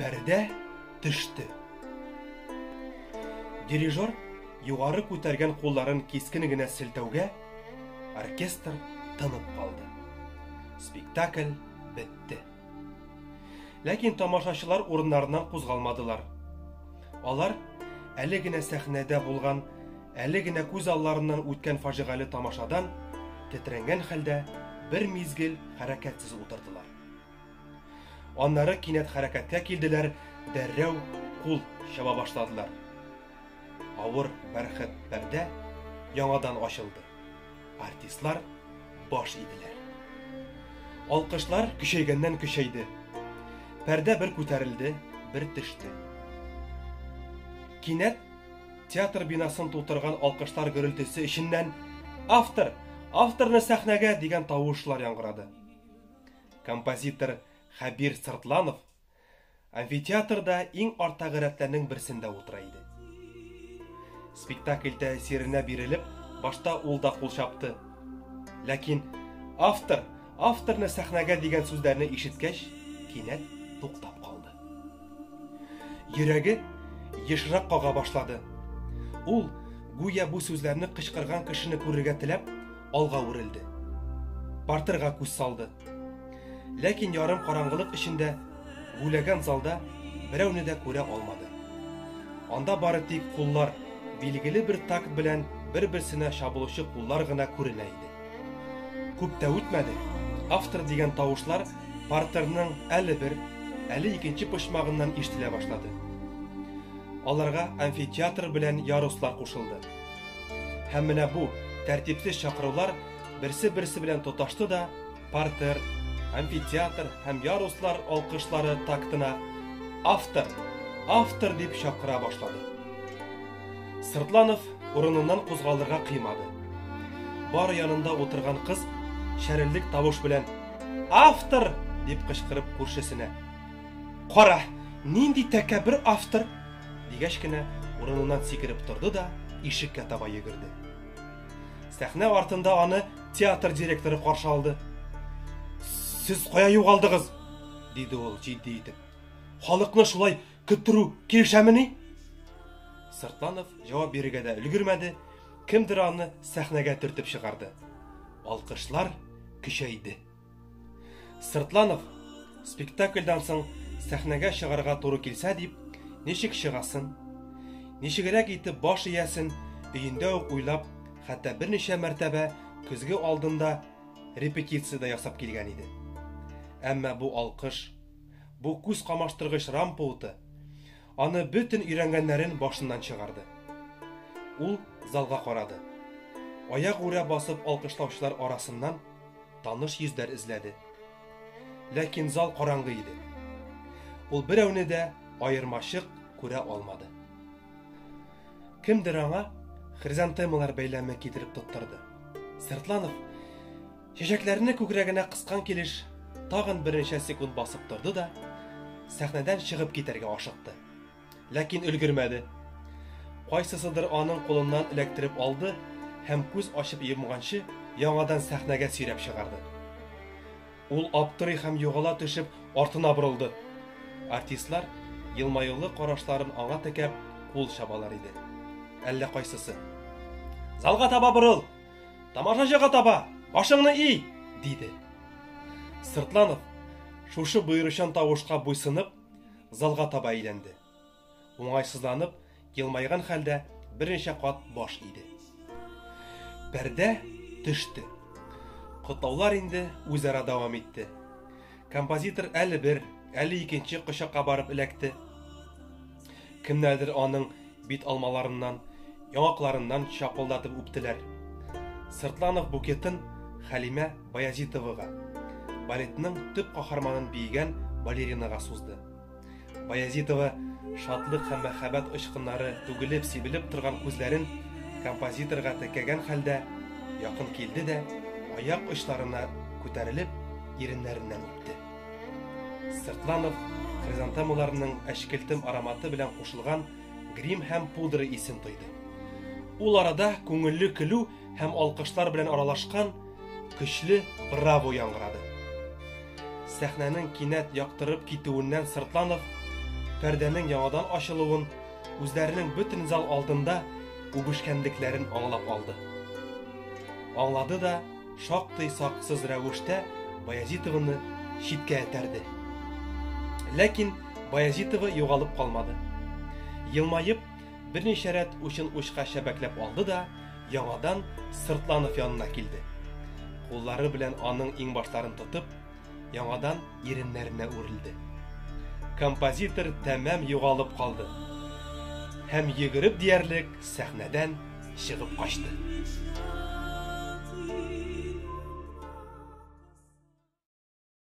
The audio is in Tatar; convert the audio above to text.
Пәрдә төште. Дирижер югары күтәргән кулларын кискен генә селтәүгә, оркестр тынып калды. Спектакль бетте. Ләкин тамашачылар урыннарыннан кузгалмадылар. Алар әле генә сәхнәдә булган Әле генә күз алларыннан үткән фаҗигале тамашадан тетрәнгән хәлдә бер мизгел хәрәкәтсез утырдылар. Аннары кинәт хәрәкәткә килделәр, дәррәү кул чаба башладылар. Авыр бәрхет пәрдә яңадан ачылды. Артистлар баш иделәр. Алкышлар көчәйгәннән көчәйде. Пәрдә бер күтәрелде, бер төште. Кинәт Театр бинасын тутырган алкышлар гөрелтесе эченнән автор, авторны сәхнәгә дигән тавышлар яңгырады. Композитор Хәбир Сыртланов амфитеатрда иң артагы рәтләрнең берсендә утыра иде. Спектакль тәэсиренә бирелеп, башта ул да кул чапты. Ләкин автор Авторны сәхнәгә дигән сүзләрне ишеткәч, кинәт туктап калды. Йөрәге ешрак кага башлады. Ул, гүя бу сүзләрне кычкырган кешене күрергә теләп, алга үрелде. Партерга күз салды. Ләкин ярым караңгылык эчендә гүләгән залда берәүне дә күрә алмады. Анда бары тик куллар, билгеле бер такт белән бер-берсенә чабылучы куллар гына күренә иде. Күп тә үтмәде, автор дигән тавышлар партерның әле бер, әле икенче почмагыннан ишетелә башлады. Аларга амфитеатр белән яруслар кушылды. Һәм менә бу тәртипсез чакырулар берсе-берсе белән тоташты да, партер, амфитеатр һәм яруслар алкышлары тактына автор, автор дип чакыра башлады. Сыртланов урыныннан кузгалырга кыймады. Бар янында утырган кыз шәрелдек тавыш белән Автор! дип кычкырып күршесенә. Кара, нинди тәкәбер автор! дигәч кенә урыныннан сикереп торды да ишеккә таба йөгерде. Сәхнә артында аны театр директоры каршы алды. Сез кая югалдыгыз? диде ул җитди итеп. Халыкны шулай көттерү килешәмени? Сыртланов җавап бирергә дә өлгермәде, кемдер аны сәхнәгә төртеп чыгарды. Алкышлар көчәйде. Сыртланов спектакльдан соң сәхнәгә чыгарга туры килсә дип, ничек чыгасын, ничегрәк итеп баш иясен өендә үк уйлап, хәтта берничә мәртәбә көзге алдында репетиция дә ясап килгән иде. Әмма бу алкыш Бу күз камаштыргыч рампа уты аны бөтен өйрәнгәннәрен башыннан чыгарды. Ул залга карады. Аягүрә басып алкышлаучылар арасыннан таныш йөзләр эзләде. Ләкин зал караңгы иде. Ул берәүне дә аермачык күрә алмады. Кемдер аңа хризантемалар бәйләме китереп тоттырды. Сыртланов Чәчәкләрне күкрәгенә кыскан килеш, тагын берничә секунд басып торды да, сәхнәдән чыгып китәргә ашыкты. Ләкин өлгермәде. Кайсысыдыр аның кулыннан эләктереп алды һәм күз ачып йомганчы яңадан сәхнәгә сөйрәп чыгарды. Ул аптырый һәм югала төшеп артына борылды. Артистлар елмаюлы карашларын аңа текәп кул чабалар иде. Әллә кайсысы. Залга таба борыл! Тамашачыга таба, башыңны и! диде. Сыртланов, шушы боеручан тавышка буйсынып, залга таба әйләнде. Уңайсызланып, елмайган хәлдә берничә кат баш иде. Пәрдә төште. Котлаулар инде үзара дәвам итте. Композитор әле бер, әле икенче кочакка барып эләкте. Кемнәрдер аның бит алмаларыннан, яңакларыннан чапылдатып үптеләр. Сыртланов букетын Хәлимә Баязитовага, балетның төп каһарманын биегән балеринага сузды. Баязитова шатлык һәм мәхәббәт очкыннары түгелеп сибелеп торган күзләрен композиторга текәгән хәлдә якын килде дә, аяк очларына күтәрелеп, иреннәреннән үпте. Сыртланов хризантемаларның әчкелтем ароматы белән кушылган грим һәм пудра исен тойды. Ул арада күңелле көлү һәм алкышлар белән аралашкан көчле браво яңгырады. Сәхнәнең кинәт яктырып китүеннән Сыртланов пәрдәнең яңадан ачылуын, үзләренең бөтен зал алдында үбешкәнлекләрен аңлап алды. Аңлады да, шактый саксыз рәвештә Баязитованы читкә этәрде. Ләкин Баязитова югалып калмады. Елмаеп, берничә рәт учын учка чәбәкләп алды да, яңадан Сыртланов янына килде. Куллары белән аның иңбашларын тотып, Яңадан иреннәренә үрелде. Композитор тәмам югалып калды. Һәм йөгереп диярлек сәхнәдән чыгып качты.